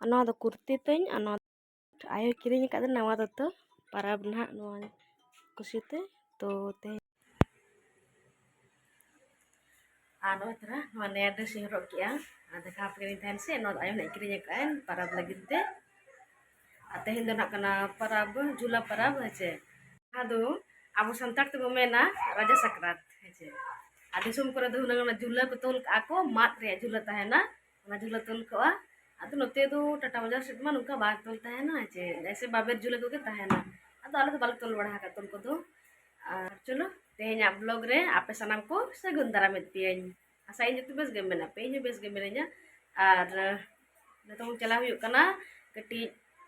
ᱟᱨ ᱱᱚᱣᱟ ᱫᱚ ᱠᱩᱨᱛᱤ ᱛᱤᱧ ᱟᱨ ᱱᱚᱣᱟ ᱟᱭᱳᱭ ᱠᱤᱨᱤᱧ ᱟᱠᱟᱫ ᱱᱟᱣᱟ ᱫᱚᱛᱚ ᱯᱟᱨᱟᱵᱽ ᱱᱟᱦᱟᱜ ᱱᱚᱣᱟ ᱠᱩᱥᱤᱛᱮ ᱛᱚ ᱛᱮᱦᱮᱧ ᱟᱨ ᱱᱚᱜᱼᱚᱭ ᱛᱚᱨᱟ ᱱᱚᱣᱟ ᱱᱮᱭᱟ ᱰᱨᱮᱥ ᱤᱧ ᱦᱚᱨᱚᱜ ᱠᱮᱜᱼᱟ ᱟᱨ ᱫᱮᱠᱷᱟᱣ ᱟᱯᱮ ᱠᱟᱹᱱᱟᱹᱧ ᱛᱟᱦᱮᱱ ᱥᱮ ᱱᱚᱣᱟ ᱫᱚ ᱟᱭᱳ ᱱᱟᱦᱟᱜ ᱠᱤᱨᱤᱧ ᱟᱠᱟᱫ ᱟᱹᱧ ᱯᱟᱨᱟᱵᱽ ᱞᱟᱹᱜᱤᱫ ᱛᱮ ᱟᱨ ᱛᱮᱦᱮᱧ ᱫᱚ ᱱᱟᱦᱟᱜ ᱠᱟᱱᱟ ᱯᱟᱨᱟᱵᱽ ᱡᱩᱞᱟ ᱯᱟᱨᱟᱵᱽ ᱦᱮᱸᱪᱮ ᱡᱟᱦᱟᱸ ᱫᱚ ᱟᱵᱚ ᱥᱟᱱᱛᱟᱲ ᱛᱮᱵᱚ ᱢᱮᱱᱟ ᱨᱟᱡᱟ ᱥᱟᱠᱨᱟᱛ ᱦᱮᱸᱪᱮ ᱟᱨ ᱫᱤᱥᱚᱢ ᱠᱚᱨᱮ ᱫᱚ ᱦᱩᱱᱟᱹᱝ ᱚᱱᱟ ᱡᱩᱞᱟᱹ ᱠᱚ ᱛᱚᱞ ᱠᱟᱜᱼᱟ ᱠᱚ ᱢᱟᱫ ᱨᱮᱭᱟᱜ ᱡᱩᱞᱟᱹ ᱛᱟᱦᱮᱱᱟ ᱚᱱᱟ ᱡᱷᱩᱞᱟᱹ ᱛᱚᱞ ᱠᱚᱜᱼᱟ ᱟᱫᱚ ᱱᱚᱛᱮ ᱫᱚ ᱴᱟᱴᱟ ᱵᱟᱡᱟᱨ ᱥᱮᱫ ᱢᱟ ᱱᱚᱝᱠᱟ ᱵᱟᱝ ᱛᱚᱞ ᱛᱟᱦᱮᱱᱟ ᱡᱮ ᱮᱭᱥᱮ ᱵᱟᱵᱮᱨ ᱡᱷᱩᱞᱟᱹ ᱠᱚᱜᱮ ᱛᱟᱦᱮᱱᱟ ᱟᱫᱚ ᱟᱞᱮ ᱫᱚ ᱵᱟᱞᱮ ᱛᱚᱞ ᱵᱟᱲᱟ ᱟᱠᱟᱫ ᱛᱚᱞ ᱠᱚᱫᱚ ᱟᱨ ᱪᱚᱞᱚ ᱛᱮᱦᱮᱧᱟᱜ ᱵᱞᱚᱜ ᱨᱮ ᱟᱯᱮ ᱥᱟᱱᱟᱢ ᱠᱚ ᱥᱟᱹᱜᱩᱱ ᱫᱟᱨᱟᱢᱮᱫ ᱯᱮᱭᱟᱹᱧ ᱟᱥᱟᱭᱟᱹᱧ ᱡᱚᱛᱚ ᱵᱮᱥ ᱜᱮ ᱢᱮᱱᱟᱜ ᱯᱮ ᱤᱧ ᱵᱮᱥ ᱜᱮ ᱢᱤᱱᱟᱹᱧᱟ ᱟᱨ ᱱᱤᱛᱚᱝ ᱪᱟᱞᱟᱣ ᱦᱩᱭᱩᱜ ᱠᱟᱱᱟ ᱠᱟᱹᱴᱤᱡ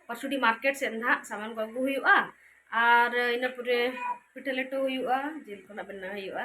ᱯᱟᱥᱩᱰᱤ ᱢᱟᱨᱠᱮᱴ ᱥᱮᱫ ᱱᱟᱦᱟᱜ ᱥᱟᱢᱟᱱ ᱠᱚ ᱟᱹᱜᱩ ᱦᱩᱭᱩᱜᱼᱟ ᱟᱨ ᱤᱱᱟᱹ ᱯᱚᱨᱮ ᱯᱤᱴᱷᱟᱹ ᱞᱮᱴᱚ ᱦᱩᱭᱩᱜᱼᱟ ᱡᱤᱞ ᱠᱚ ᱱᱟᱦᱟᱜ ᱵᱮᱱᱟᱣ ᱦᱩᱭᱩᱜᱼᱟ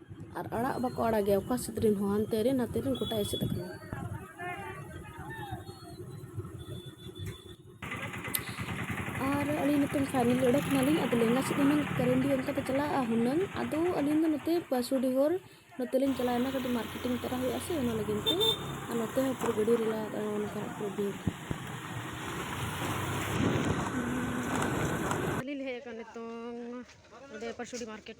ᱟᱨ ᱟᱲᱟᱜ ᱵᱟᱠᱚ ᱟᱲᱟᱜ ᱜᱮᱭᱟ ᱚᱠᱟ ᱥᱮᱫ ᱨᱮᱱ ᱦᱚᱸ ᱦᱟᱱᱛᱮ ᱨᱮᱱ ᱱᱟᱛᱮ ᱨᱮᱱ ᱜᱚᱴᱟ ᱮᱥᱮᱫ ᱟᱠᱟᱱᱟ ᱟᱨ ᱟᱹᱞᱤᱧ ᱱᱤᱛᱚᱝ ᱯᱷᱟᱭᱱᱮᱞ ᱚᱰᱚᱠ ᱱᱟᱞᱤᱧ ᱟᱫᱚ ᱞᱮᱸᱜᱟ ᱥᱮᱫ ᱦᱩᱱᱟᱹᱝ ᱠᱟᱨᱮᱱᱰᱤ ᱚᱱᱠᱟ ᱫᱚ ᱪᱟᱞᱟᱜᱼᱟ ᱦᱩᱱᱟᱹᱝ ᱟᱫᱚ ᱟᱹᱞᱤᱧ ᱫᱚ ᱱᱚᱛᱮ ᱯᱟᱥᱩᱰᱤ ᱦᱚᱨ ᱱᱚᱛᱮ ᱞᱤᱧ ᱪᱟᱞᱟᱣᱮᱱᱟ ᱠᱟᱹᱴᱤᱡ ᱢᱟᱨᱠᱮᱴᱤᱝ ᱛᱚᱨᱟ ᱦᱩᱭᱩᱜᱼᱟ ᱥᱮ ᱚᱱᱟ ᱞᱟᱹᱜᱤᱫ ᱛᱮ ᱟᱨ ᱱᱚᱛᱮ ᱦᱚᱸ ᱯᱩᱨᱟᱹ ᱜᱟᱹᱰᱤ ᱨᱮᱞᱟ ᱚᱱᱠᱟ ᱯᱩᱨᱟᱹ ᱵᱤᱨ ᱟᱹᱞᱤᱧ ᱞᱮ ᱦᱮᱡ ᱟᱠᱟᱱᱟ ᱱᱤᱛᱚᱝ ᱚᱸᱰᱮ ᱯᱟᱥᱩᱰᱤ ᱢᱟᱨᱠᱮᱴ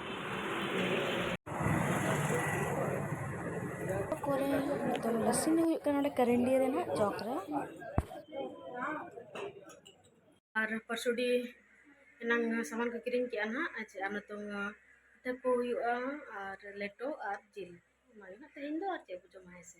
ᱠᱚᱨᱮ ᱱᱤᱛᱚᱝ ᱞᱟᱹᱥᱤ ᱧᱩ ᱦᱩᱭᱩᱜ ᱠᱟᱱᱟ ᱱᱚᱰᱮ ᱠᱟᱨᱮᱱᱰᱤᱭᱟ ᱨᱮ ᱱᱟᱦᱟᱜ ᱪᱚᱠ ᱨᱮ ᱟᱨ ᱯᱟᱨᱥᱚᱰᱤ ᱮᱱᱟᱝ ᱥᱟᱢᱟᱱ ᱠᱚ ᱠᱤᱨᱤᱧ ᱠᱮᱜᱼᱟ ᱱᱟᱦᱟᱜ ᱟᱪᱪᱷᱟ ᱟᱨ ᱱᱤᱛᱚᱝ ᱯᱤᱴᱷᱟᱹ ᱠᱚ ᱦᱩᱭᱩᱜᱼᱟ ᱟᱨ ᱞᱮᱴᱚ ᱟᱨ ᱡᱤᱞ ᱚᱱᱟᱜᱮ ᱱᱟᱦᱟᱜ ᱛᱮᱦᱮᱧ ᱫᱚ ᱟᱨ ᱪᱮᱫ ᱵᱚ ᱡᱚᱢᱟ ᱦᱮᱸ ᱥᱮ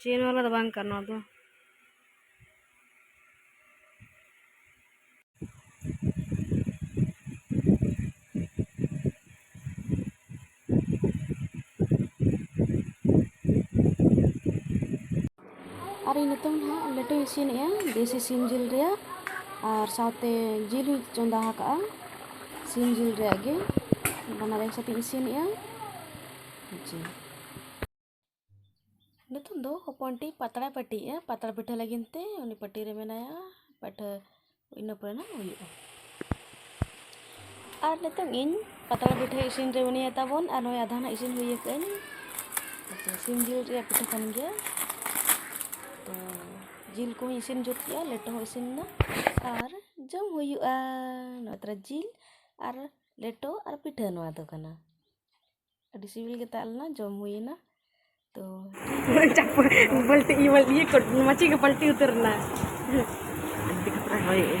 ᱪᱮᱱ ᱵᱟᱞᱟ ᱫᱚ ᱵᱟᱝ ᱠᱟᱱᱟ ᱱᱚᱣᱟ ᱫᱚ ᱟᱨ ᱤᱧ ᱱᱤᱛᱚᱝ ᱦᱟᱸᱜ ᱞᱮᱴᱚᱧ ᱤᱥᱤᱱᱮᱜᱼᱟ ᱫᱮᱥᱤ ᱥᱤᱢ ᱡᱤᱞ ᱨᱮᱭᱟᱜ ᱟᱨ ᱥᱟᱶᱛᱮ ᱡᱤᱞ ᱦᱚᱸᱧ ᱪᱚᱸᱫᱟ ᱟᱠᱟᱜᱼᱟ ᱥᱤᱢ ᱡᱤᱞ ᱨᱮᱭᱟᱜ ᱜᱮ ᱵᱟᱱᱟᱨ ᱮᱠ ᱥᱟᱛᱮᱧ ᱤᱥᱤᱱᱮᱜᱼᱟ ᱡᱤᱞ ᱱᱤᱛᱚᱜ ᱫᱚ ᱦᱚᱯᱚᱱ ᱴᱤᱡ ᱯᱟᱛᱲᱟᱭ ᱯᱟᱹᱴᱤᱭᱮᱜᱼᱟ ᱯᱟᱛᱲᱟ ᱯᱤᱴᱷᱟᱹ ᱞᱟᱹᱜᱤᱫ ᱛᱮ ᱩᱱᱤ ᱯᱟᱹᱴᱤ ᱨᱮ ᱢᱮᱱᱟᱭᱟ ᱯᱟᱹᱴᱷᱟᱹ ᱤᱱᱟᱹ ᱯᱚᱨᱮ ᱱᱟᱜ ᱦᱩᱭᱩᱜᱼᱟ ᱟᱨ ᱱᱤᱛᱚᱜ ᱤᱧ ᱯᱟᱛᱲᱟ ᱯᱤᱴᱷᱟᱹ ᱤᱥᱤᱱ ᱨᱮ ᱢᱮᱱᱟᱭᱟ ᱛᱟᱵᱚᱱ ᱟᱨ ᱱᱚᱜᱼᱚᱭ ᱟᱫᱷᱟ ᱱᱟᱜ ᱤᱥᱤᱱ ᱦᱩᱭ ᱟᱠᱟᱫᱟᱹᱧ ᱥᱤᱢ ᱡᱤᱞ ᱨᱮᱭᱟᱜ ᱯᱤᱴᱷᱟᱹ ᱠᱟᱱ ᱜᱮᱭᱟ ᱛᱚ ᱡᱤᱞ ᱠᱚᱦᱚᱸ ᱤᱥᱤᱱ ᱡᱩᱛ ᱠᱮᱜᱼᱟ ᱞᱮᱴᱚ ᱦᱚᱸ ᱤᱥᱤᱱ ᱮᱱᱟ ᱟᱨ ᱡᱚᱢ ᱦᱩᱭᱩᱜᱼᱟ ᱱᱚᱜᱼᱚᱭ ᱛᱚᱨᱟ ᱡᱤᱞ ᱟᱨ ᱞᱮᱴᱚ ᱟᱨ ᱯᱤᱴᱷᱟᱹ ᱱᱚᱣᱟ ᱫᱚ ᱠᱟᱱᱟ ᱟᱹᱰᱤ ᱥᱤᱵᱤᱞ ᱜᱮ ᱛᱟᱦᱮᱸ ᱞᱮᱱᱟ ᱡᱚᱢ ᱦᱩᱭᱮᱱᱟ ᱛᱚ ᱵᱟᱹᱞᱴᱤ ᱤᱭᱟᱹ ᱠᱚ ᱢᱟᱹᱪᱤ ᱜᱮ ᱯᱟᱞᱴᱤ ᱩᱛᱟᱹᱨ ᱮᱱᱟ ᱟᱹᱰᱤ ᱠᱷᱟᱛᱨᱟ ᱦᱚᱭᱮᱜᱼᱟ